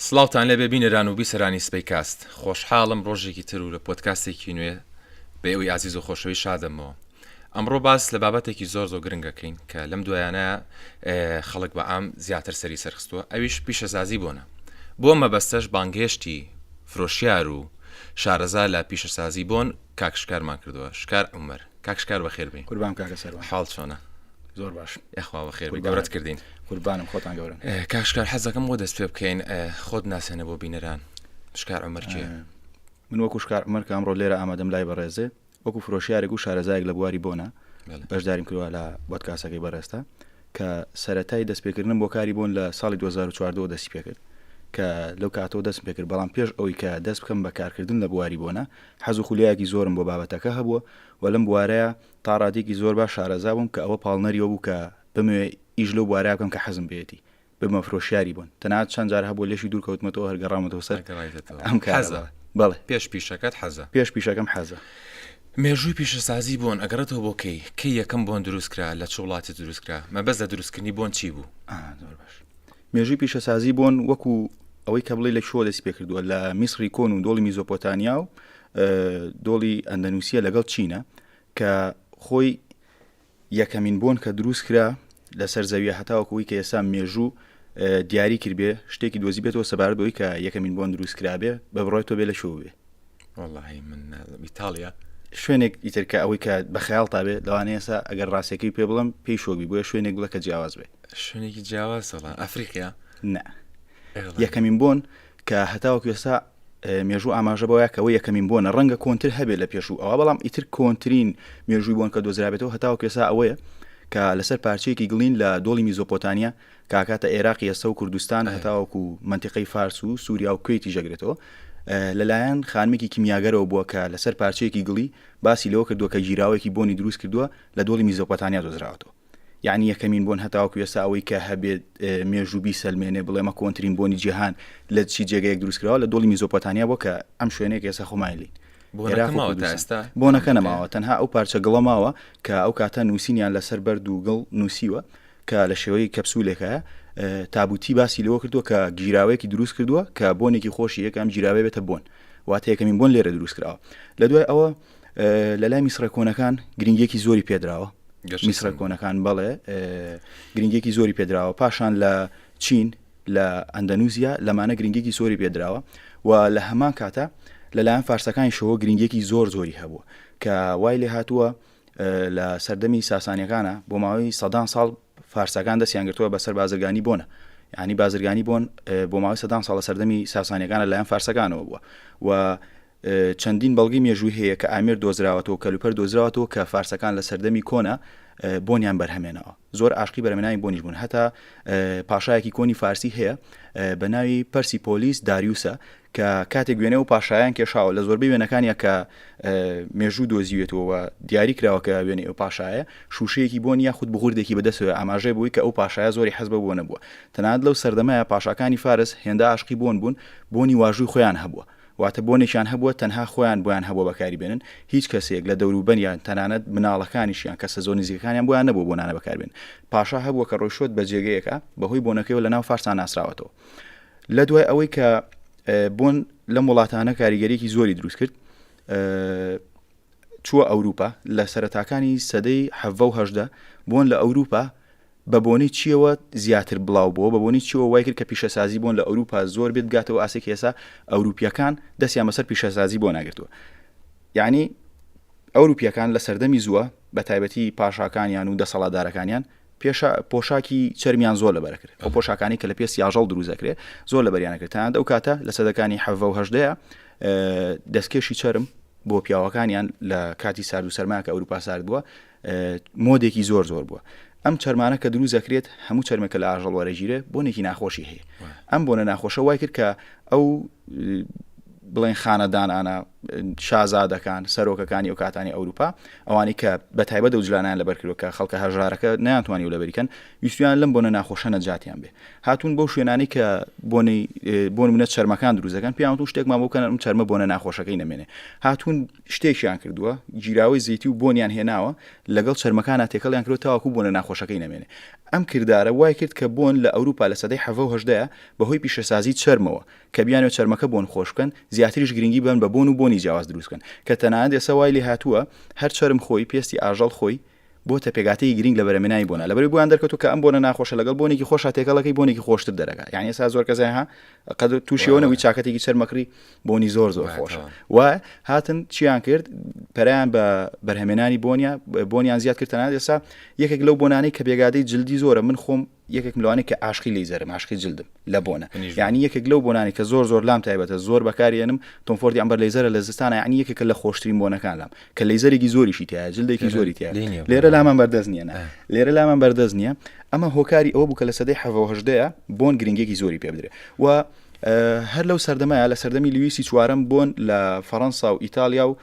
سڵاوتان لێبێ بینەران و بیسەرانی سپەی کاست خۆشحاڵم ڕۆژێکی تر و لە پۆتکاستێکی نوێ بە ئێوەی ئازیز و خۆشەوی شادەمەوە ئەمڕۆ باس لە بابەتێکی زۆر زۆ گرنگەکەین کە لەم دوایانە خەڵک بە ئام زیاتر سەری سەرخستووە ئەویش پیشەسازی بۆنە بۆ مەبەستەش بانگهێشتی فرۆشیار و شارەزا لە پیشەسازی بۆن کاکشکارمان کردووە شکار عمر کاکشکار بەخێربین قوربان کاکە سەر حاڵ چۆنە زۆر باش یخوا بە خێر گەورەت کردین قوربانم خۆتان گەورن کاشکار حەزەکەم بۆ دەست پێ بکەین خۆت ناسێنە بۆ بینەران شکار ئەمەرکێ من وەکو شکار ئەمەر کامڕۆ لێرە ئامادەم لای بەڕێزێ وەکو فرۆشیارێک و شارەزایەک لە بواری بۆنا بەشداریم کردوە لە بەدکاسەکەی بەڕێستا کە سەتای دەستپێکردنم بۆ کاری بوون لە ساڵی 2014 دەستی پێکرد کە لەو کاتەوە دەست پێکرد بەڵام پێش ئەوی کە دەست بکەم بە کارکردن لە بواری بۆنە حەز و خولیایەکی زۆرم بۆ بابەتەکە هەبووە و لەم بوارەیە تا ڕادەیەکی زۆر باش شارەزا بووم کە ئەوە پاڵنەری ئەوە بوو کە بمەوێ ئیش لەو بوارە بکەم کە حەزم پێیەتی، ببمە فرۆشیاری بۆن، تەنانەت چەند جار هەبووە لێشی دوور کەوتمەتەوە هەر گەڕامەتەوە سەر ئەم کارە. حەزە؟ بەڵێ. پێش پیشەکەت حەزە؟ پێش پیشەکەم حەزە. مێژووی پیشەسازی بۆن ئەگەڕێتەوە بۆ کەی؟ کەی یەکەم بۆن دروست کرا؟ لە چ وڵاتێ دروست کرا؟ مەبەست لە دروستکردنی بۆن چی بوو؟ زۆر باش. مێژووی پیشەسازی بۆن وەکو ئەوەی کە بڵی لە شۆ دەست پێکردووە لە میسری کۆن و دۆڵی میزۆپۆتانیا و دۆڵی ئەندەنووسە لەگەڵ چینە کە خۆی یەکەمین بۆن کە دروست کرا لەسەر زەویە هەتاوەکەوەی کە ئێستا مێژوو دیاری کردێ شتێکی دۆزی بێتەوە سەبارەت بۆی کە یەکەمین بۆن دروست کرابێ بە بڕێتەوە بێ لە شوێ وەڵی من نازم ئیتالیا شوێنێک ئیتر کە ئەوەی کە بە خەیاڵ تابێ لەوانەیە ئێستا ئەگەر ڕاستەکەی پێ بڵم پێی شۆبی بۆیە شوێنێک بڵە کە جیاواز بێ شوێنێکی جیاواز سەڵان ئەفریقیا نە یەکەمین بۆن کە هەتاوەکو ئێستا مێژوو ئاماژە بۆە کەەوە یەکەمین بۆنە ڕەنگە کۆنتتر هەبێت لە پێشوو ئەوە بەڵام ئیتر کۆنتترین مێژووی بۆن کە دۆزرابێتەوە هەتاوەکو ئێستا ئەوەیە کە لەسەر پارچەیەکی گڵین لە دۆڵی میزۆپۆتانیا کە ئەکاتە ئێراق ئێستە و کوردستان هەتاوەکو منتیقەی فارس و سووریا و کوێتی جێگرێتەوە لەلایەن خانمێکی کیمیاگەرەوە بووە کە لەسەر پارچەیەکی گڵی باسی لەوە کردووە کە گیراوەیەکی بۆنی دروست کردووە لە دۆڵی میزۆپۆتانیا دۆزراوەتەوە یعنی یەکەمین بۆن هەتاوەکو ئێستا ئەوەی کە هەبێت مێژوبی سەلمێنێ بڵێمە کۆنترین بۆنی جیهان لە چی جێگەیەک دروستکراوە لە دۆڵی میزۆپۆتانیا بۆ کە ئەم شوێنێک ئێستا خۆمایلی بۆنەکە نەماوە تەنها ئەو پارچە گڵەماوە کە ئەو کاتە نووسینیان لەسەر بەرد و گڵ نووسیوە کە لە شێوەی کەپسولێکە تابوتی باسی لەوە کردووە کە گیراوەیەکی دروست کردووە کە بۆنێکی خۆشی یەکەم گیراوێ بێتە بۆن واتە یەکەمین بۆن لێرە دروست کراوە لە دوای ئەوە لە لای میسرە کۆنەکان گرنگێکی زۆری پێدراوە میسرە کۆنەکان بەڵێ گرنگێکی زۆری پێدراوە پاشان لە چین لە ئەندەنوزیا لەمانە گرنگێکی زۆری پێدراوە و لە هەمان کاتە لەلایەن فارسەکانی شەوە گرنگێکی زۆر زۆری هەبووە کە وای لێ هاتووە لە سەردەمی ساسانیەکانە بۆ ماوەی سەدان ساڵ فارسەکان دەستیان گرتووە بەسەر بازرگانی بۆنە ینی بازرگانی بۆن بۆ ماوەی سەدان ساڵە سەردەمی ساسانیەکانە لایەن فارسەکانەوە بووە و چەندین بەڵگی مێژووی هەیە کە ئامر دۆزراوەتەوە کەلوپەر دۆزراوەتەوە کە فارسەکان لە سەردەمی کۆنا بۆنیان بەرهەمێنەوە زۆر عاشقی بەرمێنانی بۆنیش بوون هەتا پاشایەکی کۆنی فارسی هەیە بە ناوی پرسی پۆلیس داریوسە کە کاتێک وێنە و پاشایان کێشاوە لە زۆربەی وێنەکانیا کە مێژوو دۆزیوێتەوە و دیاری کراوە کە وێنەی ئەو پاشایە شووشەیەکی بۆن یا خود بغوردێکی بەدەسەوە ئاماژەی بووی کە ئەو پاشایە زۆری حەزبە بۆ نەبووە تەنات لەو سەردەمەیە پاشاکانی فارس هێندا عاشقی بۆن بوون بۆنی واژووی خۆیان هەبووە واتە بۆنێکیان هەبووە تەنها خۆیان بۆیان هەبووە بەکاری بێنن هیچ کەسێک لە دەوروبەریان تەنانەت مناڵەکانیشیان کەسە زۆر نزیکەکانیان بۆیان نەبوو بۆنانە بەکاربێن پاشا هەبووە کە ڕۆیشۆت بە جێگەیەکە بەهۆی بۆنەکەیەوە لە ناو فارسان ناسراوەتەوە لە دوای ئەوەی کە بۆن لەم وڵاتانە کاریگەریەکی زۆری دروست کرد چووە ئەوروپا لە سەرتاکانی سەدەی حەڤە و هەشدا بۆن لە ئەوروپا بە بۆنی چیەوە زیاتر بڵاو بووە بە بۆنی چیەوە وای کرد کە پیشەسازی بۆن لە ئەوروپا زۆر بێت بگاتەوە ئاسێک ئێسا ئەوروپیەکان دەستیان بەسەر پیشەسازی بۆ ناگرتووە یعنی ئەوروپیەکان لە سەردەمی زووە بە تایبەتی پاشاکانیان و دەسەڵاتدارەکانیان پێشە پۆشاکی چەرمیان زۆر لەبەر کرد ئەو پۆشاکانی کە لە پێست یاژەڵ دروست دەکرێت زۆر لە بەریانەکرد تاند ئەو کاتە لە سەدەکانی حەڤە و هەشدەیە دەستکێشی چرم بۆ پیاوەکانیان لە کاتی سارد و سەرماکە ئەوروپا سارد بووە مۆدێکی زۆر زۆر بووە ئەم چەرمانە کە دروست دەکرێت هەموو چەرمەکە لە ئاژەڵ وەرەگیرێ بۆنێکی ناخۆشی هەیە ئەم بۆنە ناخۆشە وای کرد کە ئەو بڵێن خانەدانانە شازادەکان سەرۆکەکانی و کاتانی ئەوروپا ئەوانەی کە بە تایبەت ئەوجلانەیان لەبەر کردوە کە خەڵکە هەژارەکە نەیانتوانی لەبەری کەن ویستویان لەم بۆنە ناخۆشە نەجاتیان بێ هاتون بۆ شوێنانی کە بۆنی بۆن منە چەرمەکان دروزەکان پیاوتون شتێکمان بۆ کەن چەرمە بۆنە ناخۆشەکەی نەمێنێ هاتون شتێکیان کردووە گیراوەی زیتی و بۆنیان هێناوە لەگەڵ چەرمەکانە تێکەڵیان کرد تاواکو بۆنە ناخۆشەکەی نەمێنێ ئەم کردارە وای کرد کە بۆن لە ئەوروپا لە سەدەی حەڤە و هەژدەیە بەهۆی پیشەسازی چەرمەوە کە بیانوێت چەرمەکە بۆن خۆش بکەن، زیاتریش گرنگی بدەن بە بۆن و بۆنی جیاواز دروست بکەن، کە تەنانەت ئێستا وای لێهاتووە هەر چەرم خۆی، پێستی ئاژەڵ خۆی، بۆتە پێکهاتەیەکی گرنگ لە بەرهەمێنانی بۆنە، لەبەرئەوەی بۆیان دەرکەوتووە کە ئەم بۆنە ناخۆشە لەگەڵ بۆنێکی خۆشا تێکەڵ دەکەی بۆنێکی خۆشتر دەرەکا، یانی ئێستا زۆر کەس ها قەد تووشی ئەوە نەبووی چاکەتێکی چەرمەکڕی بۆنی زۆر زۆر خۆشە و هاتن چیان کرد پەریان بە بەرهەمێنانی بۆنیان بۆنیان زیاد کرد تەنانەت ئێستا یەکێک لەو بۆنانەی کە بێگادەی جلدی زۆرە من خۆم یەکێکم لەوانەی کە عاشقی لەیزەرم عاشقی جلدم لە بۆنە منیش یعنی یەکێک لەو بۆنانی کە زۆر زۆر لام تایبەتە زۆر بەکارێنم تۆم فۆردی ئەمبەر لەیزەرە لە زستانە یعنی یەکێکە لە خۆشترین بۆنەکان لام کە لەیزەرێکی زۆریشی تایە جلدێکی لێرە زۆری تیا لێ نییە بۆ لێرە ئەوە. لامان بەردەست نییە نا ئە. لێرە لامان بەردەست نییە ئەمە هۆکاری ئەوە بوو کە لە سەدەی حەڤە و هەژدەیە بۆن گرنگیەکی زۆری پێ بدرێ و ئە، هەر لەو سەردەمەیە لە سەردەمی لویسی چوارەم بۆن لە فەرەنسا و ئیتالیا و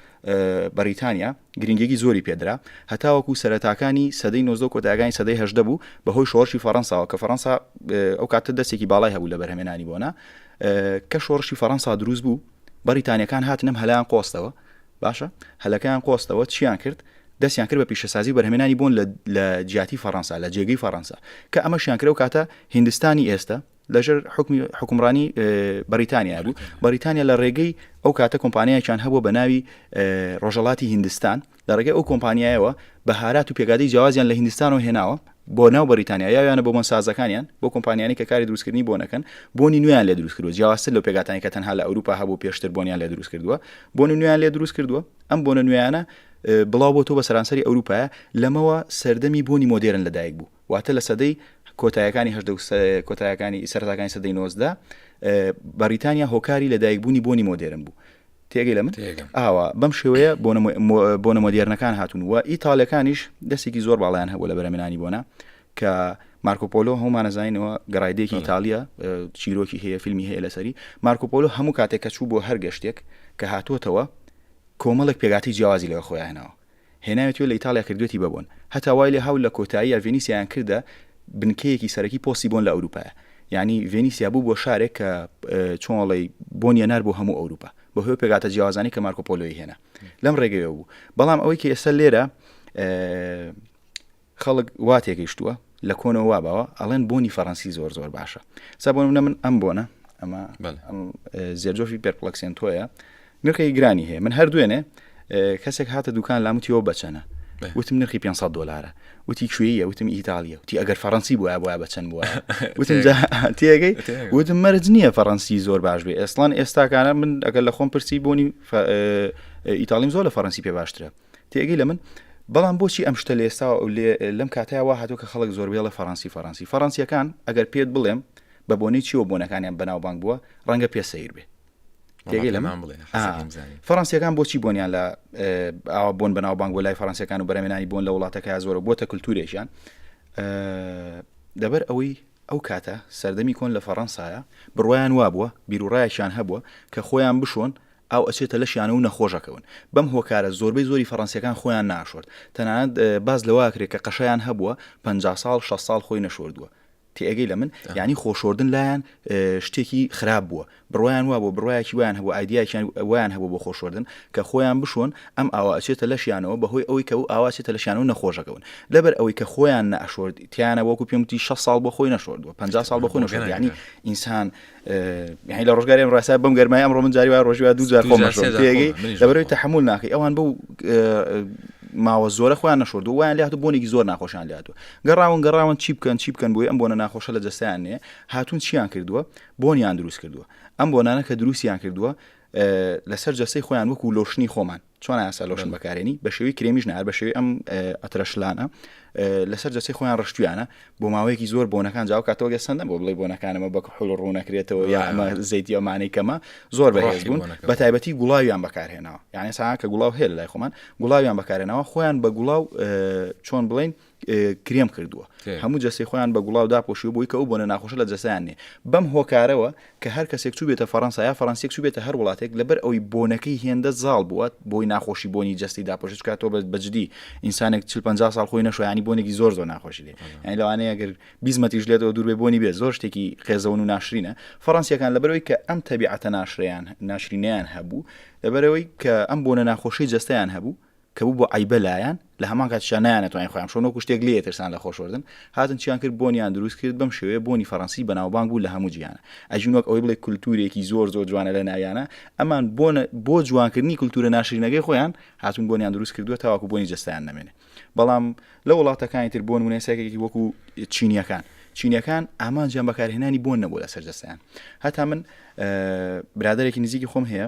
بەڕیتانیا گرنگیەکی زۆری پێدرا هەتاوەکو سەرەتاکانی سەدەی نۆزدە کۆتاگانی سەدەی هەشدە بوو بەهۆی شۆڕشی فەڕەنساوە کە فەڕەنسا ئەو کاتە دەستێکی باڵای هەبوو لە بەرهەمێنانی بۆنا کە شۆڕشی فەڕەنسا دروست بوو بەڕیتانیەکان هاتنم هەلان قۆستەوە باشە هەلەکەیان قۆستەوە چیان کرد دەستیان کرد بە پیشەسازی و بەرهمێنانی بوون لە جیاتی فەڕەنسا لە جێگەی فەڕەنسا کە ئەمەشیان کرە و کاتە هندستانی ئێستا لەژێر حکمی حکومڕانی بەریتانیا بوو بەریتانیا لە ڕێگەی ئەو کاتە کۆمپانیایان هەبوو بە ناوی ڕۆژەڵاتی هندستان لە ڕێگەی ئەو کۆمپانیایەوە بەهارات و پێگادی جیازیان لە هندستان و هێناوە بۆ ناو بەریتانیا یاویانە بۆ بۆنسازەکانیان بۆ کۆمپانیانی کە کاری دروستکردنی بۆنەکەن بۆنی نوێیان لە دروست کردو جیاواستر لە پێگاتانی کە تەنها لە ئەوروپا هەبوو پێشتر بۆنیان لە دروست کردووە بۆنی نوێیان لێ دروست کردووە ئەم بۆنە نوێیانە بڵاو بۆ تۆ بە سەرانسەری ئەوروپا لەمەوە سەردەمی بۆنی مۆدێرن لەدایک بوو واتە لە سەدەی کۆتایەکانی هەژدە و کۆتایەکانی سەرەتاکانی سەدەی نۆزدە بەریتانیا هۆکاری لە دایکبوونی بۆنی مۆدێرن بوو تێگەی لە من ئاوا بەم شێوەیە بۆ نەمۆدیێرنەکان هاتون و ئیتالەکانیش دەستێکی زۆر باڵیان هەبوو لە بەرەمێنانی بۆنا کە مارکۆپۆلۆ هەمانەزانینەوە گەڕایدێکی ئیتالیا چیرۆکی هەیە فیلمی هەیە لەسەری مارکۆپۆلۆ هەموو کاتێک کە چوو بۆ هەر گەشتێک کە هاتووەتەوە کۆمەڵێک پێگاتی جیازی لەوە خۆیانەوە هێناوێتی و لە ئیتاڵیا کردوویەتی بە بۆن، هەتا وای لێهاو لە کۆتاییا ڤێنیسیایان کردە بنکەیەکی سەرەکی پۆستی بۆن لە ئەوروپایا، یانی ڤێنیسیا بوو بووە شارێک کە چۆن ئەڵێی بۆنی ئەنار بۆ هەموو ئەوروپا، بە هۆی پێکهاتە جیاوازانەی کە مارکۆ پۆلۆی هێنا لەم ڕێگەیەوە بوو، بەڵام ئەوەی کە ئێستا لێرە خەڵک وا تێگەیشتووە لە کۆنەوە وا باوە ئەڵێن بۆنی فەرەنسی زۆر زۆر باشە سا بۆ نمونە من ئەم بۆنە ئەمە زێرجۆفی پێرپڵەکسێنتۆیە نرخی گرانی هەیە من هەر دوێنێ کەسێک هاتە دوکان لاموتیەوە بەچەنە وتم نرخی 500 دلارە وتی کوێیە وتم ئیتالیا وتی ئەگەر فەڕەنسی بووە بووە بە چەند بووە وتم تێگەی وتم مەرج نییە فەڕەنسی زۆر باش بێ ئێسلان ئێستاکانە من ئەگەر لە خۆم پرسی بوونی ئیتالیم زۆر لە فەڕەنسی پێ باشترە تێگەی لە من بەڵام بۆچی ئەم شتە لە ئێستا لەم کاتەیە وا هاتوو کە خەڵک زۆر بێڵە فەرەنسی فەرەنسی فەرەنسیەکان ئەگەر پێت بڵێم بە بۆنەی چیوە بۆنەکانیان بەناوبانگ بووە ڕەنگە پێ سیر بێ تێگەی لە من بڵێ فەرەنسیەکان بۆچی بۆنیان لە ئاوا بۆن بەناوبانگ بۆ لای فەرەنسیەکان و بەرەمێنانی بۆن لە وڵاتەکە زۆرە بۆتە کللتورێکیان دەبەر ئەوەی ئەو کاتە سەردەمی کۆن لە فەڕەنسایە بڕوایان وابووە بیرروڕایەکیان هەبووە کە خۆیان بشۆن ئاو ئەچێتە لەشیانە و نەخۆش ئەکەون. بەم هۆکارە زۆربەی زۆری فەڕەنسییەکان خۆیان ناشۆرد. تەنانەت باس لەوە ئەکرێ کە قەشەیان هەبووە پەنجا ساڵ، شەست ساڵ خۆی نەشۆردووە. تێئەگەی لە من؟ یانی خۆشۆردن لایان شتێکی خراپ بووە. بڕوایان وا بووە، بڕوایەکی وایان هەبووە، ئایدیایەکی وایان هەبووە بۆ خۆشۆردن کە خۆیان بشۆن، ئەم ئاوە ئەچێتە لەشیانەوە بەهۆی ئەوەی کە ئەو ئاوە ئەچێتە لەشیانە و نەخۆش ئەکەون. لەبەر ئەوەی کە خۆیان نەئەشۆرد، تیانە وەکوو پێم وتی شەست ساڵ بۆ خۆی نەشۆردووە، پەنجا ساڵ بۆ خۆی نەشۆردووە. یانی ئینسان. هی لە ڕۆژگاری ئەم ڕاستە بەم گەرمای ئەمڕۆ من جاری وای ڕۆژی وا دوو جار خۆمەشێگەی لەبەرەوەی تەحمل ناکەی ئەوان بەو ماوە زۆرە خۆیان نەشردو وایان لات بۆنێکی زۆر ناخۆشان لاتوە گەڕاون گەڕاون چی بکەن چی بکەن بۆی ئەم بۆنە ناخۆشە لە جستیان نیە هاتون چیان کردووە بۆنیان دروست کردووە ئەم بۆنانە کە دروستیان کردووە لەسەر جەسەی خۆیان وەکو لۆشنی خۆمان چۆن یاسا لۆشن بەکارێنی بە شێوی کرێمیش نار بە شێوی ئەم ئەترەشلانە لەسەر جەچەی خۆیان ڕشتویانە بۆ ماوەیەکی زۆر بۆنەکان جااو کاتەوە گە سندە بۆ بڵی بۆنەکانەمە بە حل ڕوونەکرێتەوە یا ئەمە زەیتی ئەمانەی کەمە زۆر بەڕێژ بوون بە تایبەتی گوڵاویان بەکارهێناوە یعنی سا کە گوڵاو هێل لای خۆمان گوڵاویان بەکارێنەوە خۆیان بە گوڵاو چۆن بڵین کرێم کردووە هەموو جەسی خۆیان بە گوڵاو داپۆشی بۆی کە ئەو بۆنە ناخۆشە لە جەسەیان نێ بەم هۆکارەوە کە هەر کەسێک چوو بێتە فەڕەنسا یا فەرەنسیک چوو بێتە هەر وڵاتێک لەبەر ئەوی بۆنەکەی هێندە زاڵ بووە بۆی ناخۆشی بۆنی جەستی داپۆشت کاتۆ بە بەجددی ئینسانێک چ 50 ساڵ خۆی نەشویانی بۆنێکی زۆر زۆر ناخۆشی لێ یعنی لەوانەیە گەر بیزمەتیش لێتەوە دوور بێ بۆنی بێ زۆر شتێکی قێزەون و ناشرینە فەڕەنسیەکان لەبەرەوەی کە ئەم تەبیعەتە ناشریان ناشرینیان هەبوو لەبەرەوەی کە ئەم بۆنە ناخۆشی جەستیان هەبوو کە بوو بۆ عەیبە لایان، لە هەمان کاتیشا نەیانەتوانی خۆیان بشۆن، وەکو شتێک لێ ئەترسان لە خۆشوەردن، هاتن چیان کرد، بۆنیان دروست کرد، بەم شێوەیە بۆنی فەرەنسی بەناوبانگ بوو لە هەموو جیهانا. ئەژین وەک ئەوەی بڵێی کولتوورێکی زۆر زۆر جوانە لە ناویانا، ئەمان بۆ بۆ جوانکردنی کولتوورە ناشرینەکەی خۆیان، هاتوون بۆنیان دروست کردووە تاوەکو بۆنی جەستەیان نەمێنێ. بەڵام لە وڵاتەکانی تر بۆ نموونە ئێستا وەکو چینییەکان، چینییەکان ئامانجیان بەکارهێنانی بۆن نەبووە لەسەر جەستەیان. هەتا من برادەرێکی نزیکی خۆم هەیە،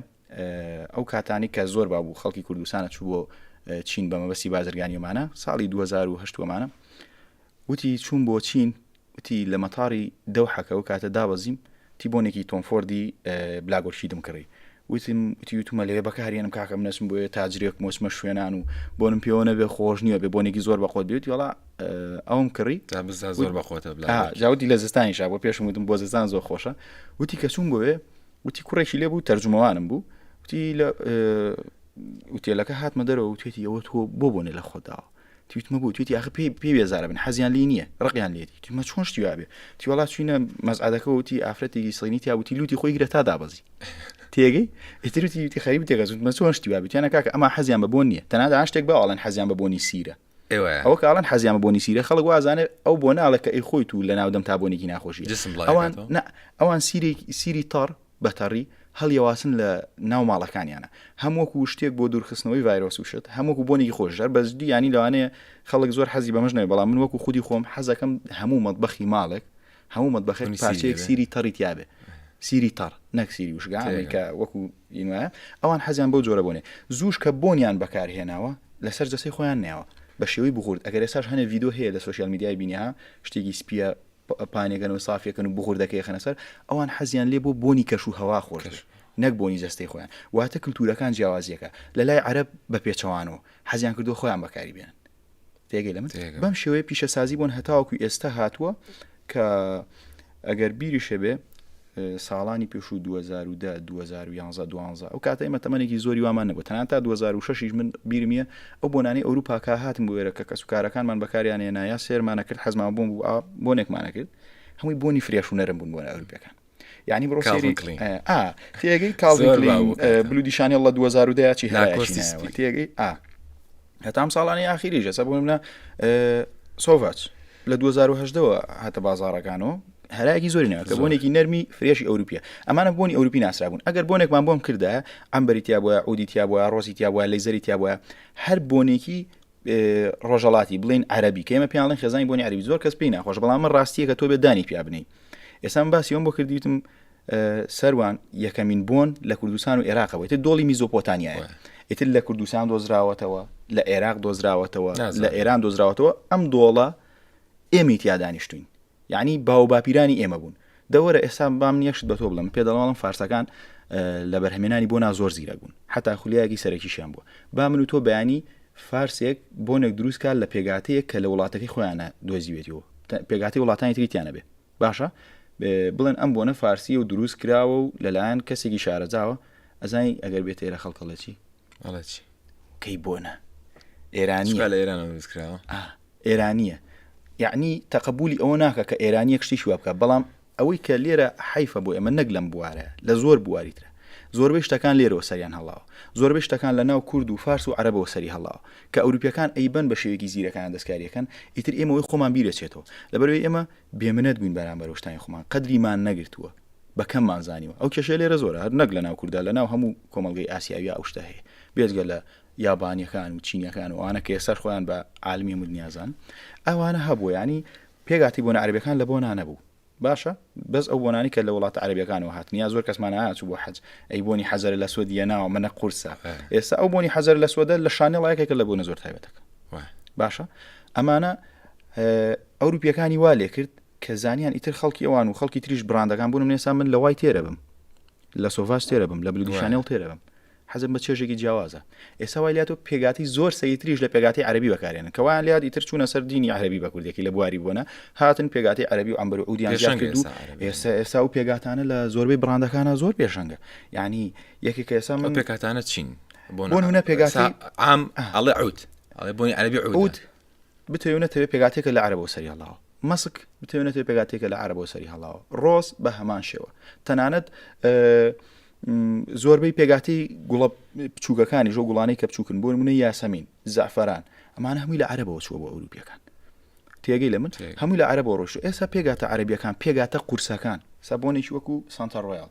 ئەو کاتانی کە زۆر بابوو خەڵکی کوردستانە چوو بۆ چین بە مەبەستی بازرگانیمانە ساڵی 2010 وەمانە وتی چوون بۆ چین وتی لە مەتاری دەوحەکە و کاتە دابەزیم تی بۆنێکی تۆمفۆردی بلاگۆرشی دمکڕی وتم وتیوتمە لەوێ بەکارێنم کاکەم نەچم بۆ تاجرێک مۆچمە شوێنان و بۆنم پێوە نەبێ خۆش نییە بێ بۆنێکی زۆر بەخۆت بێت وڵا ئەوم کڕی زۆر بەخۆتە جاوتی لە زستانیشا بۆ پێشم وتم بۆ زستان زۆر خۆشە وتی کە چوون بۆێ وتی کوڕێکی لێ بوو تەرجمەوانم بوو وتی لە وتێلەکە هاتمە دەرەوە وتێتی ئەوە تۆ بۆ بۆنێ لە خۆداوە تویتمە بوو تویتی ئاخ پێی پێ بێزارە بن حەزیان لی نییە ڕقیان لێتی تومە چۆن شتیوابێ تیوەڵا چوینە مەزعادەکە وتی ئافرەتێکی سڵینی تیا وتی لوتی خۆی گرە تا دابەزی تێگەی ئیتروتی خەریب تێگەزمە چۆن شتیوابێت یانە کاکە ئەما حەزیان بە بۆن نییە تەنادا شتێک باڵێن حەزیان بە بۆنی سیرە ئەوە کاڵن حەزیامە بۆنی سیرە خەڵک وازانێت ئەو بۆ ناڵێک کە ئەی خۆی تو لە ناودەم تا بۆنێکی ناخۆشی ئەوان ئەوان سیری سیری تەڕ بەتەڕی هەڵیەواسن لە ناو ماڵەکانیانە هەمووەکو شتێک بۆ دوورخستنەوەی ڤایرۆس وشت هەمووکو بۆنێکی خۆشدار بەزدی ینی لەوانەیە خەڵک زۆر حەزی بەمەش نەوێ بەڵام من وەکو خودی خۆم حەزەکەم هەموو مەدبەخی ماڵێک هەموو مەدبەخێن پارچەیەک سیری تەڕی تیاابێ سیری تەڕ نەکسیری وشگانێکە وەکو ی نوایە ئەوان حەزیان بەو جۆرە بۆنێ زووش کە بۆنیان بەکار هێناوە لەسەر جەستەی خۆیان نێوە بە شێوەی بغورد ئەگەر ئێستاش هەنێ ڤیدۆ هەیە لە سۆشیال میدیای بینیها شتێکی سپیە پانێکەن و سافیەکەن و بغوردەکەی خەنە سەر ئەوان حەزیان لێ بۆ بۆنی کەش و هەوا خۆش نەک بۆنی جەستەی خۆیان واتە کللتورەکان جیاوازیەکە لە لای عرب بە پێچەوانەوە حەزیان کردو خۆیان بەکاری بێن تێگەی لە من بەم شێوەیە پیشەسازی بوون هەتاوەکو ئێستا هاتووە کە ئەگەر بیری شەبێ ساڵانی پێش و 2010 2011 دوانزە ئەو کاتە ئمە تەمەێکی زۆری وامان نەبوو تەنان تا 2006 من بیرمیە ئەو بۆنانی ئەوروپاکە هاتم بۆێرە کە کەس و کارەکانمان بەکاریانە نایە سێرمانە کرد حەزمان بووم بوو بۆنێکمانە کرد هەمووی بۆنی فرێش و نەرم بوون بۆە ئەوروپەکان یعنی بڕۆ سێری تێگەی کاڵین بلودیشانی اللە 2010 چی هەرکۆستی تێگەی ئا هەتام ساڵانی ئاخیری ژەسە بۆ منە سۆڤچ لە 2010ەوە هاتە بازارەکانەوە هەراکی زۆری ناکە بۆنێکی نەرمی فرێشی ئەوروپیە ئەمانە بۆنی ئەوروپی ناسرابوون ئەگەر بۆنێکمان بۆم کردە ئەمبەریتیا بووە ئودیتیا بووە ڕۆزیتیا بووە لەیزەریتیا بووە هەر بۆنێکی ڕۆژەڵاتی بڵین عربی کەمە پیاڵین خێزانی بۆنی عربی زۆر کەس پێی ناخۆش بەڵام من ڕاستیە کە تۆ بێ دانی پیا بنی ئێسان باسیۆم بۆ کردیتم سەروان یەکەمین بۆن لە کوردستان و عێراقەوەی تر دۆڵی میزۆپۆتانیایە ئیتر لە کوردستان دۆزراوەتەوە لە عێراق دۆزراوەتەوە لە ئێران دۆزراوەتەوە ئەم دۆڵە ئێمی تیا دانیشتوین یەعنی باو و باپیرانی ئێمە بوون. دە وەرە ئێستا با من یەک شت بە تۆ بڵێم، پێ دەڵاڵم فارسەکان لە بەرهەمێنانی بۆنا زۆر زیرەک بوون، حەتا خولیایەکی سەرەکیشیان بووە. با من و تۆ بەیانی فارسێک بۆنێک دروست کا لە پێگاتەیەک کە لە وڵاتەکەی خۆیانە دۆزیوێتیەوە، پێگاتەی وڵاتانی تری تیا نەبێ. باشە بڵێن ئەم بۆنە فارسییە و دروست کراوە و لەلایەن کەسێکی شارەزاوە، ئەزانی ئەگەر بێتە ئێرە خەڵک ئەڵێ چی؟ ئەڵێ چی؟ کەی بۆنە ئێرانییە. لە ئێرانەوە دروست کراوە. ئا ئێرانیە یەعنی تەقەبولی ئەوە ناکە کە ئێرانیەک شتێکی وا بکات بەڵام ئەوەی کە لێرە حەیفە بۆ ئێمە نەک لەم بوارە لە زۆر بواری ترە زۆربەی شتەکان لێرەوە سەریان هەڵاوە زۆربەی شتەکان لە ناو کورد و فارس و عەرەبەوە سەری هەڵاوە کە ئەوروپیەکان ئەیبەن بە شێوەیەکی زیرەکانە دەستکاریەکەن ئیتر ئێمە وەی خۆمان بیرەچێتەوە لەبەرەوەی ئێمە بێمنەت بووین بەرامبەر شتانی خۆمان قەدریمان نەگرتووە بە کەممان زانیوە ئەو کێشەیە لێرە زۆرە هەر نەک لە ناو کوردا لە ناو هەموو کۆمەڵگەی ئاسیاویە ئەو شتە هەیە بێجگە لە یابانیەکان و چینیەکان و ئەوانە کە ئێستا خۆیان بە عالمی مدنیا زان ئەوانە هەبوو ینی پێگاتی بۆنە عربەکان لە بۆنا نەبوو باشە بەس ئەو بۆنانی کە لە وڵات عربیەکانەوە هاتنیا زۆر کەسمان ئاچوو بۆ حەج ئەی بۆنی حەزەر لە سوودیە ناوە منە قورسە ئێستا ئەو بۆنی حەزەر لە سوودە لە شانە ڵایەکێکە لە بۆنە زۆر تایبەتەکە باشە ئەمانە ئەوروپیەکانی وا لێ کرد کە زانیان ئیتر خەڵکی ئەوان و خەڵکی تریش براندەکان بوون نێسا من لە وای تێرە بم لە سۆڤاش تێرە بم لە بلگوشانێڵ تێرە بم حەزم بە چێژێکی جیاوازە. ئێستا وای لاتوە پێگاتەی زۆر سەیرتریش لە پێگاتەی عەرەبی بەکارێنن کە وایان لێهات ئیتر چوونە سەر دینی عەرەبی بە کوردێکی لە بواری بوونە هاتن پێگاتەی عەرەبی و عەمبەر و عوودیان پێشەنگە زیاد کرد و ئێستا عەرەبی. ئێستا ئێستا ئەو پێگاتانە لە زۆربەی بڕاندەکانە زۆر پێشەنگە یانی یەکێک کە ئێستا ئەو من پێکهاتانە چین؟ بۆ نمونە پێگاتەی- سا- عام ئەڵێ عود ئەڵێ بۆنی عەرەبی عود عود بتەوێ نەتەوێ پێگاتێکە لە عەرەبەوە سەری هەڵاوە مەسک بتەوێ نەتەوێ پێگاتێکە لە عەرەبەوە سەری هەڵاوە ڕۆز بە هەمان شێوە تەنانەت زۆربەی پێگاتی گوڵە بچووکەکانی ژۆ گوڵانی کە بچووکن بۆ منە یاسەمین زعفران ئەمان هەمووی لە عەرەبەوە چووە بۆ ئەوروپیەکان تێگەی لە من هەمووی لە عەرەبەوە ڕۆشت ئێستا پێگاتە عەربیەکان پێگاتە قورسەکان سابۆنێکی وەکو سانتا ڕۆیال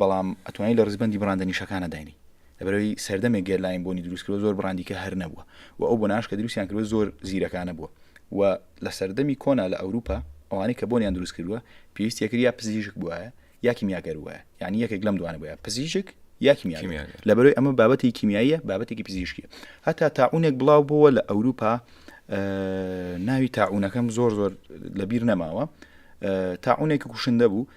بەڵام ئەتوانی لە ڕیزبەندی بڕاندە نیشەکانە داینی لەبەرەوەی سەردەمێک گەرلاین بۆنی دروستکرەوە زۆر بڕاندیکە هەر نەبووە و ئەو بۆ ناشکە دروستیان کردوە زۆر زیرەکانە بووە و لە سەردەمی کۆنا لە ئەوروپا ئەوانەی کە بۆنیان دروست کردووە پێویستیەکرد یا پزیشک بواە یا کیمیاگەر وە یعنی یەکێک لەم دوانە بە پزیشک یا کیمیا لە بەرەوەی ئەمە بابەتی کیمیاییە بابەتێکی پزیشکی هەتا تاعونێک بڵاو بووە لە ئەوروپا ناوی تاعونەکەم زۆر زۆر لەبیر نەماوە تاعونێکی کوشندە بوو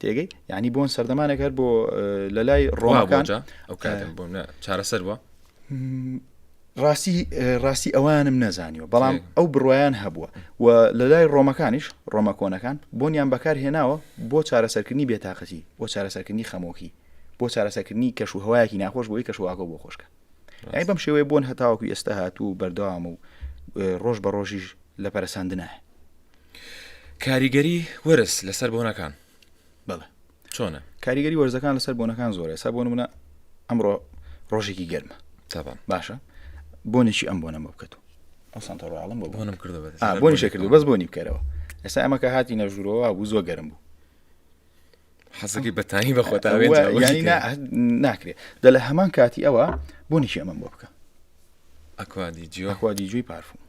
تێگەی یعنی بۆن سەردەمانێک هەر بۆ لە لای ڕۆمەکان چارەسەر بووە ڕاستی ڕاستی ئەوانم نەزانیوە بەڵام ئەو بڕایان هەبووە و لە لای ڕۆمەکانیش ڕۆمە کۆنەکان بۆنیان بەکار هێناوە بۆ چارەسەرکردنی بێتاقەتی بۆ چارەسەرکردنی خەمۆکی بۆ چارەسەکردنی کەش و هەوایەکی ناخۆش بۆی کەشواگۆ بۆ خۆشکە ئەی بەم شێوەیە بوون هەتاوەکو ئێستا هاتوو و بەردەوام و ڕۆژ بە ڕۆژیش لە پەرسەندنە کاریگەری وەرز لەسەر بۆنەکان بەڵێ چۆنە کاریگەری وەرزەکان لەسەر بۆنەکان زۆرە سا بۆن منە ئەمڕۆ ڕۆژێکی گەرمە تاان باشە بۆنێکی ئەم بۆنە مە بکەت و ئەو سانتۆڕاڵم بۆ بۆنم کردو بۆنی شکردو بەس بۆنی بکەرەوە ئێستا ئەمە کە هاتی نەژورەوە بوو زۆ گەرم بوو حەزەکەی بەتانی بەخۆتا ناکرێت دە لە هەمان کاتی ئەوە بۆ نیشی ئەمەم بۆ بکە ئەکوادی جیخوادی جوی پارفوم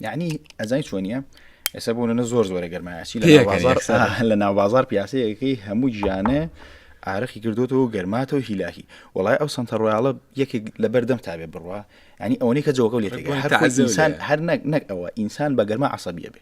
یعنی ئەزای چۆنیە ئێستا بوون لە زۆر زۆرە گەرمایسی لە ناوبازار پیاسەیەکەی هەموو گیانە ئارەخی کردوەوە گەرماتەوە هیلاهی وڵای ئەو سنتە ڕۆیاڵە یەکێک لە بەردەم تابێ بڕە ئەنی ئەوەی کە جۆگە لێ هەر نەک ئەوە ئینسان بە گەرما عسەبیە بێ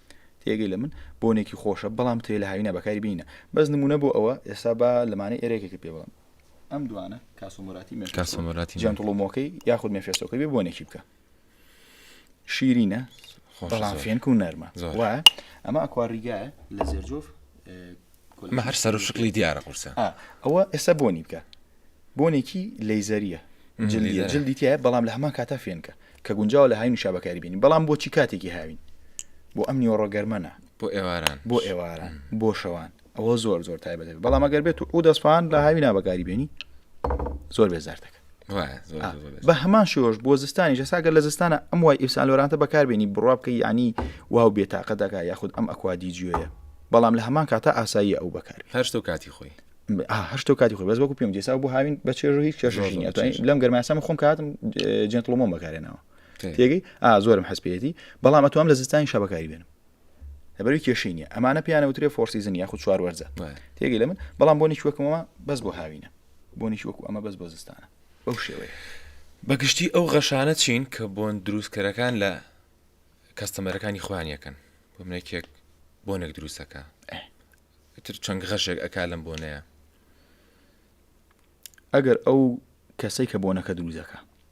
تێگەی لە من بۆنێکی خۆشە بەڵام تێ لە هاوینە بەکاری بینە بەس نمونە بۆ ئەوە ئێستا بە لەمانە ئێرێکێکی پێ بڵم ئەم دوانە کاسۆمۆراتی مێ کاسۆمۆراتی جانتڵۆمۆکەی یاخود مێفێسۆکەی بێ بۆنێکی بکە شیرینە بەڵام فێنک و نەرمە وایە ئەمە ئەکواریگایە لە زێرجۆف ئەمە هەر سەر و شکڵی دیارە قورسە ئەوە ئێستا بۆنی بکە بۆنێکی لەیزەریە جلیە جلدی تایە بەڵام لە هەمان کاتا فێنکە کە گونجاوە لە هاین و شابەکاری بینی بەڵام بۆچی کاتێکی هاوین بۆ ئەم نیۆڕۆگەرمەە بۆ ئێواران بۆ ئێواران بۆ شەوان ئەوە زۆر زۆر تایبەت بەڵام ئەگەر بێت و ئەو دەستفان لە هاوی نابەکاری بینی زۆر بێزارتەکە بە هەمان شێوەش بۆ زستانی جەساگە لە زستانە ئەم وای ئیسالۆرانتە بەکاربیێنی بڕوا بکە ینی واو بێتاقە دەکا یاخود ئەم ئەکوادی جوێە بەڵام لە هەمان کاتە ئاسایی ئەو بەکار هەشت و کاتی خۆی هەشت و کاتی خۆی بەس وەکو پێم جێسا بۆ هاوین بە چێژ هیچ کێشژین لەم گەرماسەمە خۆم کاتم جنتڵۆمە بەکارێنەوە تێگەی ئا زۆرم حەسپێتی بەڵام ئەتوام لە زستانی شەبەکاری بێنم لەبەروی کێشەی نیە ئەمانە پیانەوترێ فۆرسیزن یاخود چوار وەرزە تێگەی لە من بەڵام بۆنی وەکمەوە بەس بۆ هاوینە بۆنی وەکو ئەمە بەس بۆ زستانە بەو شێوەیە بەگشتی ئەو غەشانە چین کە بۆن دروستکەرەکان لە کەستەمەرەکانی خوان یەکەن بۆ منێکێک بۆنێک دروستەکە تر چەند غەشێک ئەک لەم بۆنەیە ئەگەر ئەو کەسێک کە بۆنەکە دروزەکە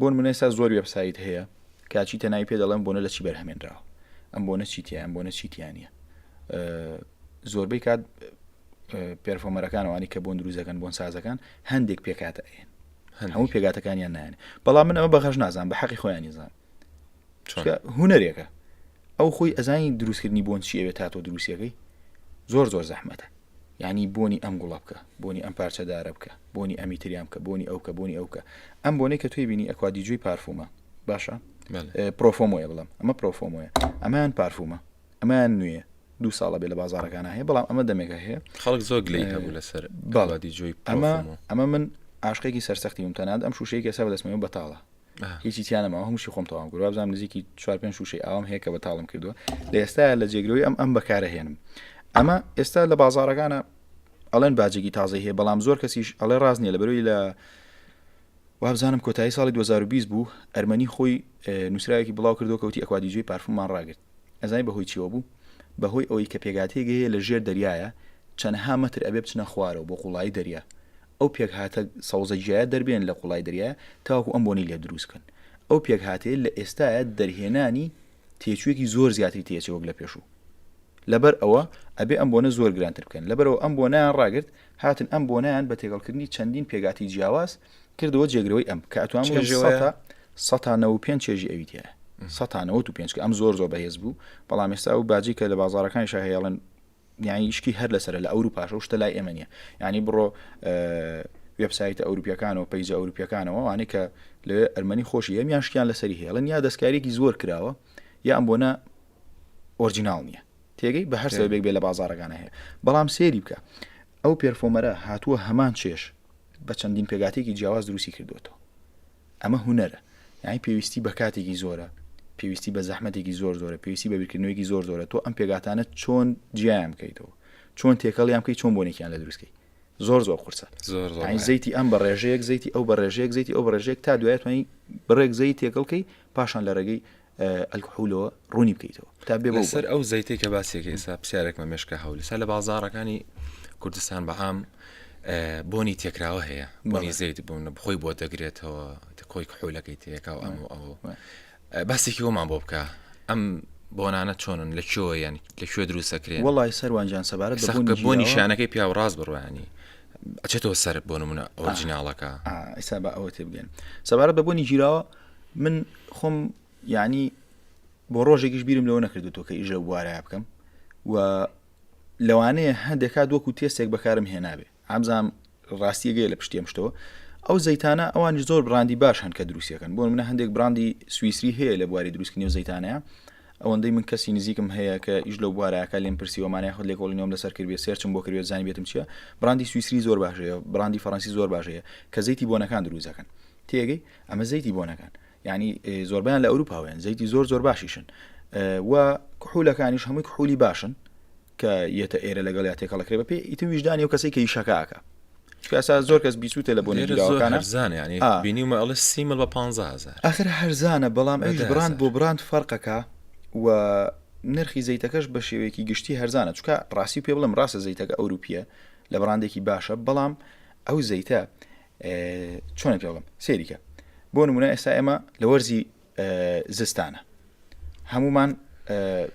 بۆنمونە ئێستا زۆر وێب سایت هەیە کە چیتە ناوی پێ دەڵێن بۆنە لە چی بەرهەمێنراوە ئەم بۆنە چی تیان بۆنە چی تیانە زۆربەی کات پێرفۆمەرەکانەوانی کە بۆن دروزەکەن بۆن سازەکان هەندێک پێکاتە ئەێن هەموو پێگاتەکانیان نایەن بەڵام من ئەمە بەخش نازان بە حەقی خۆیان نیزان هوەرێکە ئەو خۆی ئەزانی دروستکردنی بۆن چیەوێت تا تۆ دروستەکەی زۆر زۆر زەحمەتە یانی بۆنی ئەم گوڵە بکە بۆنی ئەم پارچە دارە بکە بۆنی ئەمی تریان بکە بۆنی ئەوکە بۆنی ئەوکە ئەم بۆنەی کە توی بینی ئەکوا دیجوی پارفومە باشە پرۆفۆمۆیە بڵم ئەمە پرۆفۆمۆیە ئەمان پارفومە ئەمان نوێ دوو ساڵە بێ لە بازارەکان هەیە بەڵام ئەمە دەمێکە هەیە خەڵک زۆر گلی هەبوو لەسەر باڵادی جوی ئەمە ئەمە من عاشقێکی سەرسەختی وم تەناد ئەم شوشەیەکی سا بەدەستمەوە بەتاڵە هیچی تیا نەماوە هەمووشی خۆم تەواو کرد وابزانم نزیکی چوار پێنج شوشەی ئاوام هەیە کە بە تاڵم کردووە لە ئێستا لە جێگرەوەی ئەم ئەم بەکارە هێنم ئەمە ئێستا لە بازارەکانە ئەڵێن باجێکی تازە هەیە بەڵام زۆر کەسیش ئەڵێ ڕاست نیە لە بەروی لە وابزانم کۆتایی ساڵی 2020 بوو ئەرمەنی خۆی نووسراوێکی بڵاو کردو کەوتی ئەکوادیجوی پارفمان ڕاگرت ئەزای بەهۆی چیەوە بوو بەهۆی ئەوەی کە پێگاتێگەیە لە ژێر دەریایە چەندها مەتر ئەبێ بچنە خوارەوە بۆ قوڵایی دەریا ئەو پێکهاتە سەوزە جیایە دەربێنن لە قوڵای دەریا تاوەکو ئەم بۆنەی لێ دروست بکەن. ئەو پێکهاتەیە لە ئێستایە دەرهێنانی تێچووێکی زۆر زیاتری تێچێ وەک لە پێشوو. لەبەر ئەوە ئەبێ ئەم بۆنە زۆر گرانتر بکەن. لەبەرئەوە ئەم بۆنەیان ڕاگرت، هاتن ئەم بۆنەیان بە تێکەڵکردنی چەندین پێکاتی جیاواز کردەوە جێگرەوەی ئەم، کە ئەتوانم بڵێم سەتا سەتا نەوەد و پێنج چێژی ئەوی تیایە. سەتا نەوەد و پێنج کە ئەم زۆر زۆر بەهێز بوو، بەڵام ئێستا ئەو باجەی کە لە بازاڕەکانیشا هەیە ئەڵێن یعنی شتی هەر لەسەر لە ئەوروپاش و شتە لای ئێمە نیە ینی بڕۆ وبسایتە ئەوروپیەکان و پەیجە ئەوروپیەکانەوە وانێ کە لە ئەرمەنی خۆشی هەم یان شتیان لەسەری هێڵن یا دەستکارێکی زۆر کراوە یا ئەم بۆنە ئۆرجینال نییە تێگەی بە هەر سەبێک بێ لە بازارەکانە هەیە بەڵام سێری بکە ئەو پێرفۆمەرە هاتووە هەمان چێش بە چەندین پێگاتێکی جیاواز دروستی کردوێتەوە ئەمە هونەرە یانی پێویستی بە کاتێکی زۆرە پێویستی بە زەحمەتێکی زۆر زۆرە پێویستی بە بیرکردنەوەیکی زۆر زۆرە تۆ ئەم پێگاتانە چۆن جیایان بکەیتەوە چۆن تێکەڵیان بکەیت چۆن بۆنێکیان لە دروستکەی زۆر زۆر قورسە زۆر زەیتی ئەم بە ڕێژەیەک زەیتی ئەو بە ڕێژەیەک زەیتی ئەو بە ڕێژەیەک تا دوایتوانی بڕێک زەی تێکەڵکەی پاشان لە ڕێگەی ئەلکحولۆ ڕوونی بکەیتەوە تا بێ سەر ئەو زەیتی کە باسێکی ئێستا پرسیارێکمە مێشکە هەول سا لە بازارەکانی کوردستان بەعام بۆنی تێکراوە هەیە بۆنی زەیت بوون بخۆی بۆ دەگرێتەوە کۆی کحولەکەی تێکا و ئەم و ئەو باسێکی وەمان بۆ بکە ئەم بۆنانە چۆنن لە کێوە یان لە کوێ دروستەکرێن وڵی سەروانجان سەبارەت بۆ نیشانەکەی پیا و ڕاست بڕوانی ئەچێتەوە سەر بۆ نمونە ئۆرجیناڵەکە ئیسا بە ئەوە تێبگەن سەبارەت بە بۆنی گیراوە من خۆم یعنی بۆ ڕۆژێکیش بیرم لەوە نەکردو تۆ کە ئیژە بوارە بکەم و لەوانەیە هەندێکا دۆک و تێستێک بەکارم هێنابێ ئامزام ڕاستیەگەی لە پشتێم شتەوە ئەو زەیتانە ئەوان زۆر براندی باش هەن کە دروستەکەن بۆ منە هەندێک براندی سوئیسری هەیە لە بواری دروستکردنی و زەیتانەیە ئەوەندەی من کەسی نزیکم هەیە کە ئیش لە بوارەکە لێم پرسیوەمانە خود لێ کۆڵینەوەم لەسەر کرد سێرچم بۆ کرد زانانی بێتم چیە براندی سوئیسری زۆر باشەیە براندی فەرەنسی زۆر باشەیە کە زەیتی بۆنەکان دروزەکەن تێگەی ئەمە زەیتی بۆنەکان یعنی زۆربیان لە ئەوروپاوێن زەیتی زۆر زۆر باشیشن و کحولەکانیش هەمووی کحولی باشن کە یەتە ئێرە لەگەڵ یا تێکەڵەکرێ بە پێ ئیتر ویژدانی و کەسی کە یشەکەکە کاسا زۆر کەس بیسووتە لە بۆنی زانانی بینیمە ئەڵ سیمە بە 500 ئەخر هەرزانە بەڵام ئەوش براند بۆ براند فەرقەکە و نرخی زەیتەکەش بە شێوەیەکی گشتی هەرزانە چکە ڕاستی پێ بڵم ڕاستە زەیتەکە ئەوروپیە لە بڕاندێکی باشە بەڵام ئەو زەیتە چۆن پێڵم سێریکە بۆ نمونە ئێستا ئێمە لە وەرزی زستانە هەمومان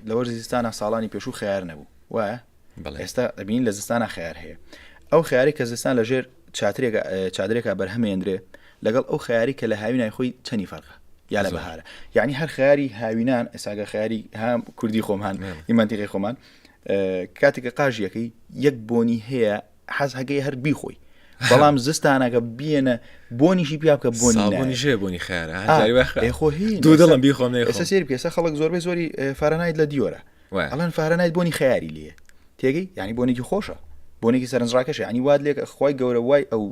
لە وەرزی زستانە ساڵانی پێشوو خیار نەبوو وایە ئێستا ئەبین لە زستانە خیار هەیە ئەو خیاری کە زستان لە ژێر چاترێکە چادرێکە بەرهەمێندرێ لەگەڵ ئەو خیاری کە لە هاوینای خۆی چەنی فەرقە یا لە بەهارە یعنی هەر خیاری هاوینان ئێساگە خیاری هام کوردی خۆمان ئیمانتیقی خۆمان کاتێکە قاژیەکەی یەک بۆنی هەیە حەز هەگەی هەر بیخۆی بەڵام زستانەکە بیێنە بۆنیشی پیا بکە بۆنی ژێ بوونی خێرە دڵم بیخۆم ئێستا سێر پێسە خەڵک زۆربەی زۆری فارەنایت لە دیۆرە ئەڵەن فارەنایت بۆنی خیاری لێ تێگەی ینی بۆنێکی خۆشە بۆنێکی سەرنجڕاکەش ینی واد لێک خخوای گەورە وای ئەو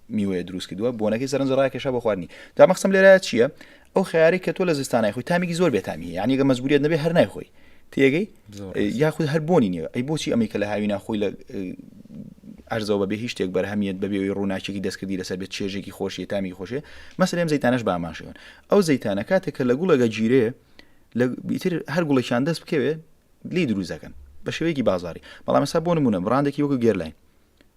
میوەیە دروست کردووە بۆنەکەی سەرنج ڕاکێشە بە خواردنی تا مەخسم لێرە چییە ئەو خیاری کە تۆ لە زستانای خۆی تامیکی زۆر بێتامی یانیگە مەزبوریت نەبێ هەر نایخۆی تێگەی یاخود هەر بۆنی نیە ئەی بۆچی ئەمەی کە لە هاوی ناخۆی لە ئەرزەوە بەبێ هیچ شتێک بەرهەمیت بەبێەوەی ڕووناکێکی دەستکردی لەسەر بێت چێژێکی خۆشی تامی خۆشێ مەسرێم زیتانش باماشێن ئەو زیتانە کاتێک کە لە گوڵەگە گیرێ لە بیتر هەر گوڵێکیان دەست بکەوێ لی دروزەکەن بە شێوەیەکی بازاری بەڵام ئەسا بۆ نمونە بڕاندێکی وەکو گێرلاین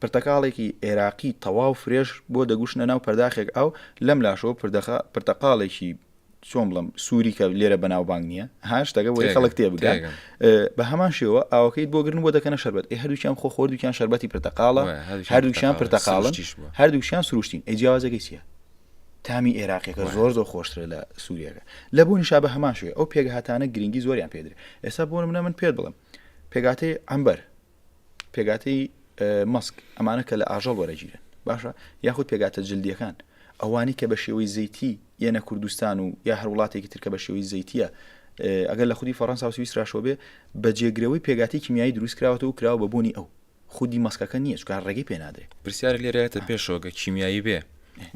پرتەقاڵێکی عێراقی تەواو فرێش بۆ دەگوشنە ناو پەرداخێک ئاو، لەم لاشەوە پردەخە پرتەقاڵێکی چۆن بڵێم سووری کە لێرە بەناوبانگ نییە ها شتەکە بۆی خەڵک تێ بگات تێگەم. بە هەمان شێوە ئاوەکەیت بۆ گرن بۆ دەکەنە شەربەت ئێ هەردووکیان خۆ خۆردووکیان شەربەتی پرتەقاڵە وایە، هەردووکیان هەردووکیان پرتەقاڵە، پرتەقاڵن سروشتیش بووە. هەردووکیان سروشتین ئەی جیاوازەکەی چییە تامی عێراقیەکە وایە. زۆر زۆر خۆشترە لە سووریەکە لە بۆنی شا بە هەمان شێوەیە ئەو پێکهاتانە گرنگی زۆریان پێدرێت ئێستا بۆ نمونە من پێت بڵێم پێکهاتەی عەمبەر پێگاتەی مەسک ئەمانە کە لە ئاژەڵ وەرەگیرن باشە یاخود پێگاتە جلدیەکان ئەوانی کە بە شێوەی زەیتی یەنە کوردستان و یا هەر وڵاتێکی ترکە بە شێوەی زەیتە ئەگەر لە خودی فەڕەنسا سویسراشەوە بێ بە جێگرەوەی پێگاتی کیمیایی دروستکراوەەوە و کراوە بە بوونی ئەو خودی مەسکەکە نییە چکار ڕێگەی پێنادرێت پرسیار لێرەێتە پێشۆگە کیمیایی بێ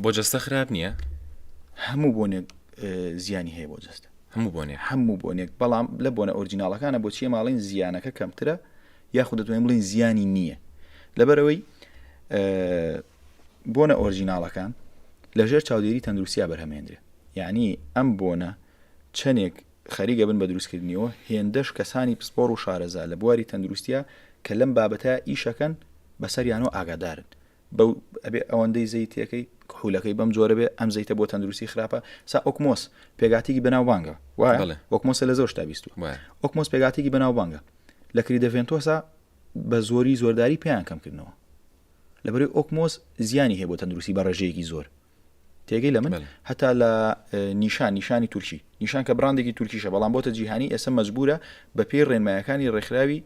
بۆ جەستە خراپ نییە هەموو بۆنێک زیانی هەیە بۆ جەستە هەموو بۆنێک. هەموو بۆنێک، بەڵام لە بۆنە ئۆرجیناڵەکانە بۆچی ئێمە ئەڵێین زیانەکە کەمترە یاخود دەتوانین بڵێین زیانی نییە؟ لەبەرەوەی بۆنە ئۆرجیناڵەکان لەژێر چاودێری تەندروستیا بەرهەمێنرێ یعنی ئەم بۆنە چەندێک خەریگە بن بە دروستکردنیەوە هێندەش کەسانی پسپۆر و شارەزا لە بواری تەندروستە کە لەم بابەتە ئیشەکەن بەسەریانەوە ئاگادارن بەو ئەبێ ئەوەندەی زەیتەکەی کحولەکەی بەم جۆرە بێ ئەم زەیتە بۆ تەندروستی خراپە سا ئۆکمۆس پێگاتیکی بەناوبانگە وەکمۆسە لە زۆر شتا بیست ئۆکمۆس پێگاتیکی بەناوبانگە لە کری دەڤێنتۆسا بە زۆری زۆرداری پێیان کەمکردنەوە لەبەری ئۆکمۆس زیانی هەیە بۆ تەندروستی بە ڕێژەیەکی زۆر تێگەی لە من هەتا لە نیشان نیشانی تورکی نیشان کە براندێکی تورکیشە بەڵام بۆتە جیهانی ئێستا مەجبورە بە پێی ڕێنمایەکانی ڕێکخراوی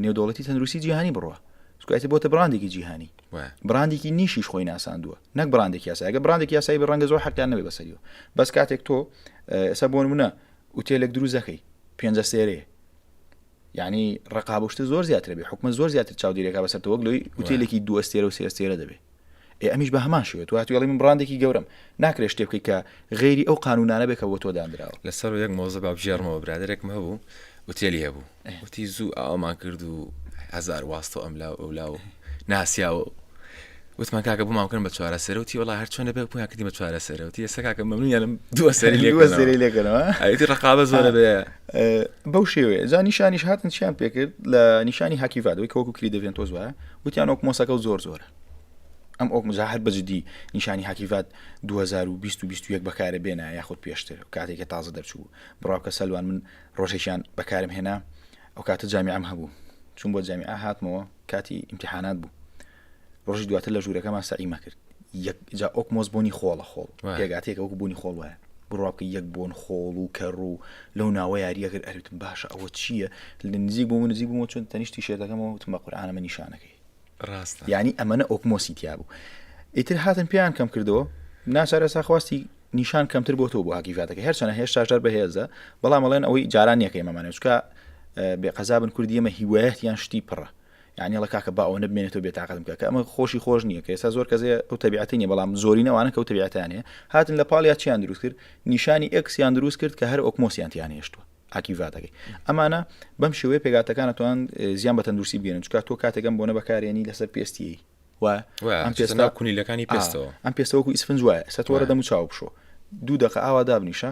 نێودوڵەتی تەندروستی جیهانی بڕە سکایتی بۆتە براندێکی جیهانی براندێکی نیشیش خۆی ناساندووە نەک براندێک یاساگە براندێک یاسایی بە ڕەنگە زۆر حەکان نەبێ بەسەریەوە بەس کاتێک تۆ ئێستا بۆن منە وتێلێک دروزەکەی پێنجە سێرەیە یعنی ڕقابشتە زۆر زیاتر بێ حکومە زۆر زیاتر چاودێرێکا بەسەرەوەک لەوەی وتێلێکی دووەستێرە و سێستێرە دەبێت ئێ ئەمیش بە هەمان شێوە تۆ هاتووی ئەڵێی من بڕاندێکی گەورەم، ناکرێ شتێ بکەی کە غەیری ئەو قانوونانە بێ کە بۆ تۆ دانراوە. لەسەر یەک مەوزوع با بگێڕمەوە، برادەرێکم هەبوو ئوتێلی هەبوو، وتی زوو ئاوامان کرد و هەزار واستە و ئەملا و ئەولا و ناسیا و وتمان کاکە بۆمان بکەن بە چوارەسەرە، وتی وەڵا هەر چۆنە بێ بوویان کردین بە چوارەسەرە، وتی ئێستا کاکە مەمنوونیانم دوو ئەسەری لێ دوو ئەسەری لێ کەنەوە، ئەیدی ڕقابە زۆرە بێ. بەو شێوەیە، جا نیشانیش هاتن چیان پێ کرد لە نیشانی هاکیڤاد ئەوەی کە وەکوو کریدڤێنتۆز وایە، وتیان ئۆکمۆسەکەو زۆر زۆرە ئەم ئۆک مزا هەر بەجددی نیشانی هاکیڤات 2021 بەکارە بێنە یاخود پێشتر کاتێکە تازە دەرچوو بڕاوکە سەلوان من ڕۆژێکیان بەکارم هێنا ئەو کاتە جامیعم هەبوو چون بۆ جامیعە هاتمەوە کاتی امتحانات بوو ڕۆژی دواتر لە ژوورەکەمان سەعیمە کرد جا ئۆکمۆس بوونی خۆڵە خۆڵ پێگاتێکە وەکو بوونی خۆڵ وایە بڕواکە یەک بوون خۆڵ و کەڕ و لەو ناوە یاریەکرد ئەرتم باشە ئەوە چییە لە نزیک بوو نزیک بوومە چۆن تەنیشتی شێتەکەمەوە وتمە قورآانەمە نیشانەکەی ڕاست ینی ئەمەە ئۆکمۆسی تیا بوو ئیتر هاتن پێیان کەم کردەوە ناچارە ساخواستی نیشان کەمتر بۆ تۆ بۆ هاکیفاتەکە هەرچەنە هێشتاشدار بەهێزە بەڵام ئەڵێن ئەوەی جاران یەکەی مەمانێچکە بێ قەزابن کوردیەمە هیوایەتیان شتی پڕە یانی ئەڵێ کاکە با ئەوەنە بمێنێتەوە بێتاقەتم کە کە ئەمە خۆشی خۆش نییە کە ئێستا زۆر کەس هەیە ئەو تەبیعەتی نیە بەڵام زۆری نەوانە کەوتە بیعتانێ هاتن لە پاڵیا چیان دروست کرد نیشانی ئەکسیان دروست کرد کە هەر ئۆکمۆسیان تیان هێشتووە ئاکیڤاتەکەی ئەمانە بەم شێوەیە پێگاتەکانە توان زیان بە تەندروستی بگەێن چکات تۆ کاتێکم بۆ نەبەکارێنی لەسەر پێستی و ئەم پێستا کونیلەکانی پێستەوە ئەم پێستەوەکو ئیسفنج وایە سەتۆرە دەم و چاو بشۆ دوو دقە ئاوا دابنیشە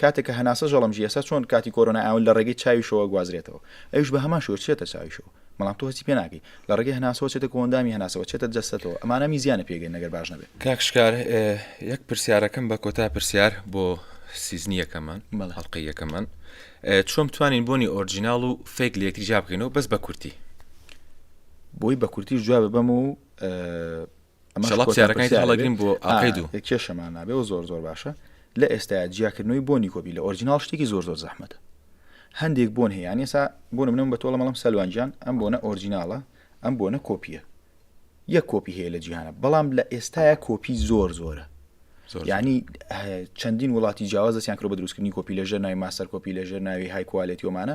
کاتێک کە هەناسە ژەڵم ژی ئێستا چۆن کاتی کۆرۆنای ئاون لە ڕێگەی چاویشەوە گوازرێتەوە ئەویش بە هەمان شێوە چێتە چاویشەوە بەڵام تۆ هەستی پێ ناکەی لە ڕێگەی هەناسەوە چێتە کۆئەندامی هەناسەوە چێتە جەستەتەوە ئەمانە می زیانە پێگەین نەگەر باش نەبێت کاک شکار یەک پرسیارەکەم بە کۆتا پرسیار بۆ سیزنی یەکەمان بەڵێ. هەڵقەی یەکەمان ئێ، چۆن بتوانین بۆنی ئۆرجیناڵ و فیک لە یەکتری جیا بکەینەوە بەس بە کورتی بۆی بە کورتیش جواب بەم و ئە، کێشەمان نابێ و زۆر زۆر باشە لە ئێستا جیاکردنەوەی بۆنی کۆبی لە ئۆرجینال شتێکی زۆر زۆر زەحمەتە هەندێک بۆن هەیەیان ێسا بۆ منم بە تۆڵە مەڵم سەلوانجان ئەم بۆنە ئۆرجیناڵە ئەم بۆنە کۆپیە یەک کۆپی هەیە لە جیهانە بەڵام لە ئێستاە کۆپی زۆر زۆرە ینی چەندین وڵاتی جیاواز دەستیان کرۆ بە دروستکردنی کۆپی لەژێر ناوی ماسەر کۆپی لەژێر ناوی های کوالێتیۆمانە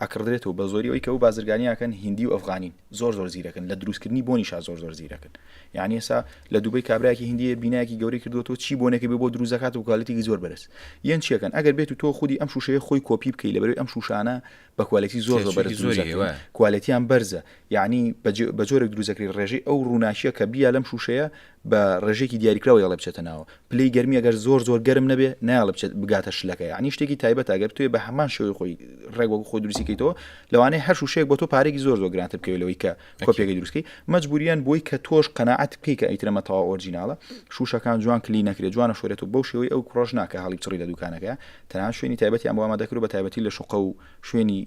ئەکڕدرێتەوە بە زۆری ئەوەی کە ئەو بازرگانی ئەکەن هیندی و ئەفغانین زۆر زۆر زیرەکن لە دروست کردنی بۆنیشا زۆر زۆر زیرەکن یانی ئێسا لە دوبەی کابرایەکی هیندی هەیە بینایەکی گەورەی کردوەوە چی بۆنێکی بێ بۆ دروست دەکات و کوالێتیکی زۆر بەرز یەن چیەکەن ئەگەر بێت و تۆ خودی ئەم شوشەیە خۆی کۆپی بکەی لەبەروی ئەم شوشانە بە کوالێتی زۆر زۆر بەرز دروست دەکرێن کوالێتیان بەرزە یانی بە جۆرێک دروست دەکرێت ڕێژەی ئەو ڕووناکیە کە بیە لەم شوشەیە بە ڕێژەیەکی دیاریکراو یەڵێ بچێتە ناوە پلەی گەرمی گەر زۆر زۆر گەرم نەبێ نایڵ بچێت بگاتە شلەکە ینی شتێکی تایبەت ئەگەر توێ بە هەمان شێوەی خۆی ڕێگوەک خۆی دروستیکەیتەوە لەوانەیە هەر شوشەیەک بۆ تۆ پارێکی زۆر زۆر گرانتر بکەوێتەوەی کە کۆپیەکەی دروستکەی مەجبوریان بۆی کە تۆش قەنەعات بکەی کە ئیترەمە تەوا ئۆرجیناڵە شوشەکان جوان کلی نەکرێت جوانە شوێت و بەو شێوەی ئەو کوڕژناکە هەڵی چڕی لە دوکانەکە تەنان شوێنی تایبەتیان بۆ ئەمە دەکرو بە تایبەتی لە شوقە و شوێنی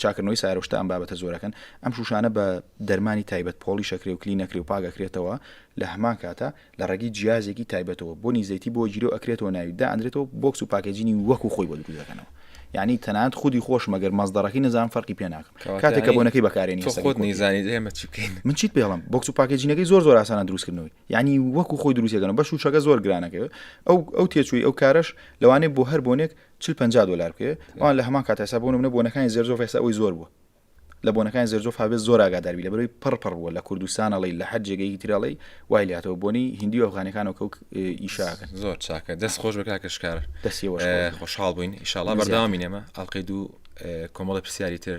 چاکردنەوەی سارۆشتە ئەم بابەتە زۆرەکەن ئەم شوشانە بە دەرمانی تایبەت پۆڵی شەکرێ و کلی نەکری و پاگەکرێتەوە لە هەمان کاتە لە ڕێگەی جیازێکی تایبەتەوە بۆ نیزەیتی بۆ گیرو ئەکرێتەوە ناوی دا ئەندرێتەوە بۆکس و پاکێجینی وەکو خۆی بۆ دروست دەکەنەوە یعنی تەنانەت خودی خۆش مەگەر مەزدەڕەکەی نەزان فەرقی پێ ناکەم کاتێک کە بۆنەکەی بەکارێنی خۆت نیزانانی ئێمە چی بکەین من چیت پێڵم بۆکس و پاکێجینەکەی زۆر زۆر ئاسانە دروستکردنەوەی یعنی وەکو خۆی دروستەکەن بەش و شەکە زۆر گرانەکەوێت ئەو ئەو تێچووی ئەو کارش لەوانێ بۆ هەر بۆنێک چل پەنجا دۆلار بکەوێت ئەوان لە هەمان کاتەسا بۆ نمونە بۆنەکانی زێرزۆف ئێستا ئەوەی زۆر بووە لە بۆنەکانی زێرزۆف هەبێت زۆر ئاگادار بی لەبەرەوەی پڕ پڕ بووە لە کوردستان ئەڵی لە هەر جێگەی تر ئەڵی وای لاتەوە بۆنی هندی و ئەفغانەکانەوە کەوک ئیشاکە زۆر چاکە دەست خۆش بە کاکەشکار دەستی خۆشحاڵ بووین ئیشاڵا بەرداوامینەمە ئەڵلقەی دوو کۆمەڵی پرسیاری تر